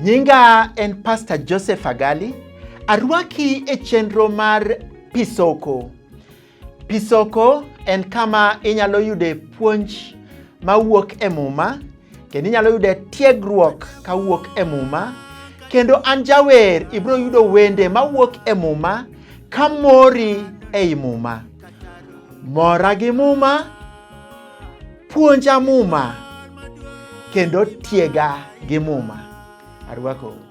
Nyinga en Pastor Joseph Agali. Arwaki e chenro mar Pisoko. Pisoko en kama inyalo yude puonj mawuok e Muma kendo inyalo yude tiegruok kawuok e Muma kendo an jawer ibiro yudo wende mawuok e Muma ka mori ei Muma. Mora gi Muma, puonja Muma kendo tiega gi Muma. Arwakou.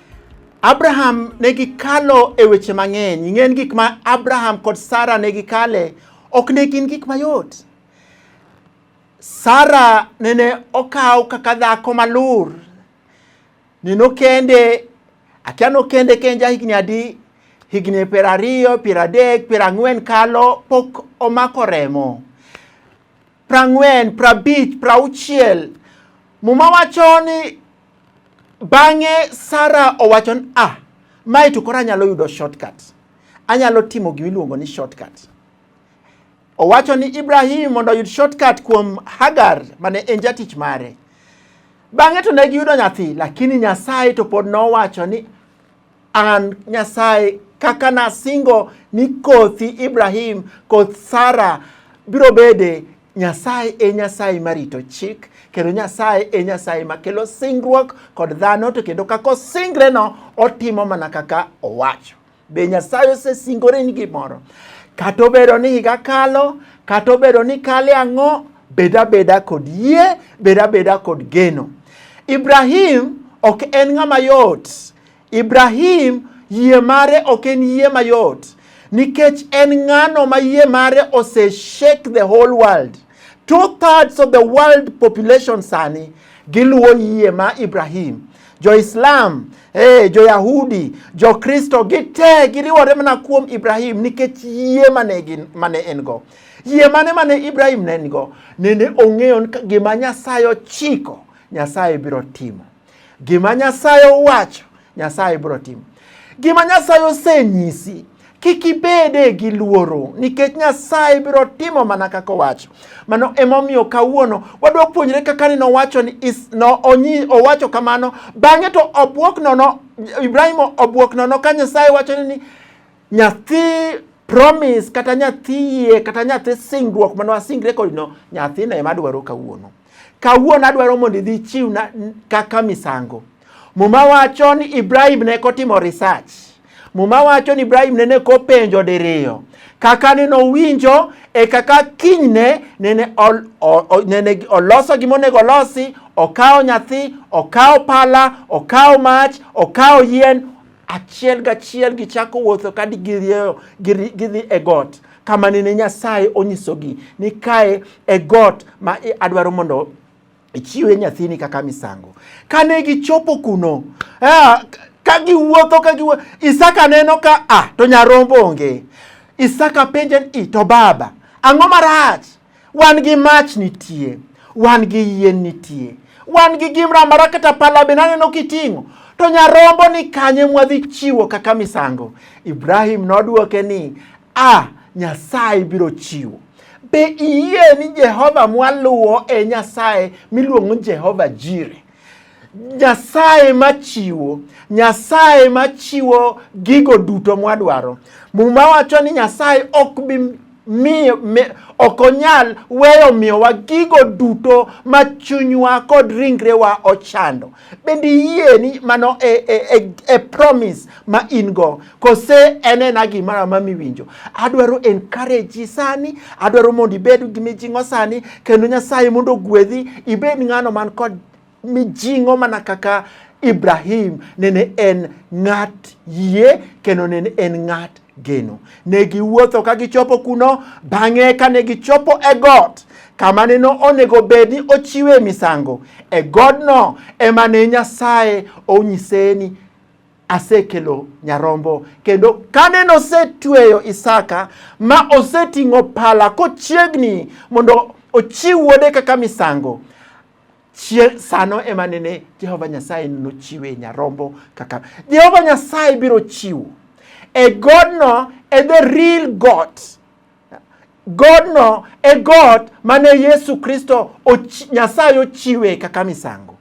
Abraham ne gikalo e weche mang'eny. Ing'en gik ma Abraham kod Sara ne gikale ok ne gin gik mayot. Sara nene okaw kaka dhako malur. Neno kende, akia nokende kenja higni adi, higni piero ariyo, piero adek, piero ang'wen kalo pok omako remo. prang'wen, prabich, prauchiel. Muma wacho ni bang'e Sara owacho ni ah, mae to koro anyalo yudo shortcut. Anyalo timo gima iluongo ni shortcut. Owacho ni Ibrahim mondo oyud shortcut kuom Hagar mane en jatich mare. Bang'e to ne giyudo nyathi, lakini Nyasaye to pod nowacho ni An Nyasaye kaka nasingo ni kothi Ibrahim, koth Sara biro bede Nyasaye e Nyasaye marito chik kendo Nyasaye e Nyasaye makelo singruok kod dhano to kendo kaka osingreno otimo mana kaka owacho. Be Nyasaye osesingore ni gimoro? Kata obedo ni higa kalo, kata obedo ni kale ang'o, Bed abeda kod yie, bed abeda kod geno. Ibrahim ok en ng'ama yot. Ibrahim yie mare ok en yie mayot nikech en ng'ano ma yie mare ose shake the whole world. Two thirds of the world population sani giluwo yie ma Ibrahim. Jo-Islam, hey, eh, jo-Yahudi, jo-Kristo gite giriwore mana kuom Ibrahim nikech yie mane, mane en go. Yie mane mane Ibrahim ne nigo? Nende ong'eyo ni gima Nyasaye ochiko, Nyasaye biro timo. Gima Nyasaye owacho, Nyasaye biro timo. Gima Nyasaye osenyisi, kik ibede gi luoro nikech Nyasaye biro timo mana kaka owacho. Mano emomiyo kawuono wadwa puonjre kaka ni nowacho ni is, no, onyi, owacho kamano bang'e to obwok nono Ibrahim obwok nono ka Nyasaye wacho ni Nyathi promise kata nyathi yie kata nyathi singruok mane wasingre kodino, nyathina ema adwaro kawuono. Kawuono adwaro mondo idhi chiwna kaka misango. Muma wacho ni Ibrahim ne kotimo research. Muma wacho ni Ibrahim nene kopenjo diriyo kaka nene owinjo e kaka kinyne nene, ol, o, o, nene oloso gima onego olosi, okawo nyathi, okawo pala, okawo mach, okawo yien, Achiel gachiel gichako wuotho ka girieyo gidhi e got kama nene Nyasaye onyisogi ni kae e got ma adwaro mondo ichiwe nyathini kaka misango. Kane gichopo kuno, ah, ka giwuotho ka giwuotho, Isaka neno ka ah, to nyarombo onge. Isaka penje ni to baba, ang'o marach? wan gi mach nitie wan gi yien nitie wan gi gimra mara kata pala be naneno kiting'o to nyarombo ni kanye mwadhi chiwo kaka misango ibrahim nodwoke ni a nyasaye biro chiwo be iyie ni jehova mwaluwo e nyasaye miluongo jehova jire Nyasaye machiwo, Nyasaye machiwo gigo duto mwadwaro. Muma wacho ni Nyasaye ok bi miyo ok onyal weyo miyowa gigo duto ma chunywa kod ringrewa ochando. Bende iyie ni mano e, e, e, e promise ma in go kose en ena gimara ma miwinjo. Adwaro encourage sani, adwaro mondo ibed gi mijing'o sani kendo Nyasaye mondo ogwedhi ibed ng'ano man kod mijing'o mana kaka Ibrahim nene en ng'at yie kendo nene en ng'at geno. Ne giwuotho ka gichopo kuno, bang'e ka ne gichopo e got kama ne onego bed ni ochiwe misango, e godno ema ne Nyasaye onyise ni asekelo nyarombo kendo kane nosetweyo Isaka ma oseting'o pala kochiegni mondo ochiw wuode kaka misango Chie, sano ema nene Jehova Nyasaye nochiwe nyarombo kaka Jehova Nyasaye biro chiwo e godno e the real God godno e God mane Yesu Kristo ochi, Nyasaye ochiwe kaka misango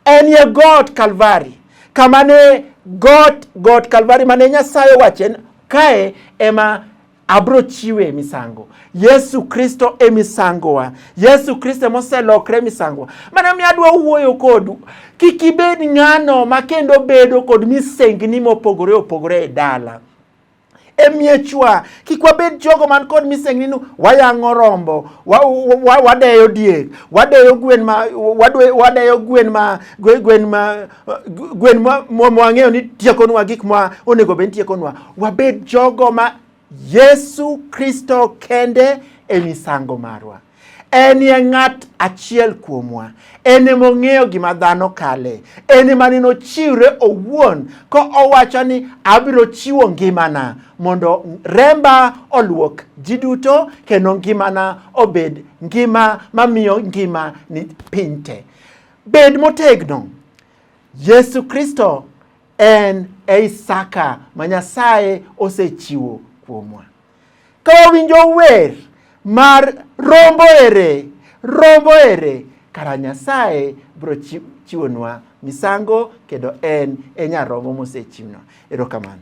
en ye God Kalvari kamane God God Kalvari mane Nyasaye wachen kae ema abro chiwe e misango yesu kristo e misangowa yesu kristo emoselokre e misangowa mana mi adwa wuoyo kodu kik ibed ng'ano ma kendo bedo kod misengni mopogore opogore e dala e miechwa kik wabed jogo man kod misengni ni wayang'o rombo wadeyo diek wadeyo gwen ma wadeyo gwen ma gwen ma Gwen mwang'eyo ni tiekonwa gik ma onego bed tiekonwa, wabed jogo ma Yesu Kristo kende e misango marwa. En ye ng'at achiel kuomwa, en ema ong'eyo gima dhano kale, en ema ne nochiwre owuon ka owacho ni abiro chiwo ngimana mondo remba oluok ji duto kendo ngimana obed ngima mamiyo ngima ni piny te. Bed motegno. Yesu Kristo en e Isaka ma Nyasaye osechiwo kuomwa. Ka wawinjo wer mar rombo ere, rombo ere, kara Nyasaye biro chiwonwa misango kendo en e nyarombo mosechiwno. Erokamano.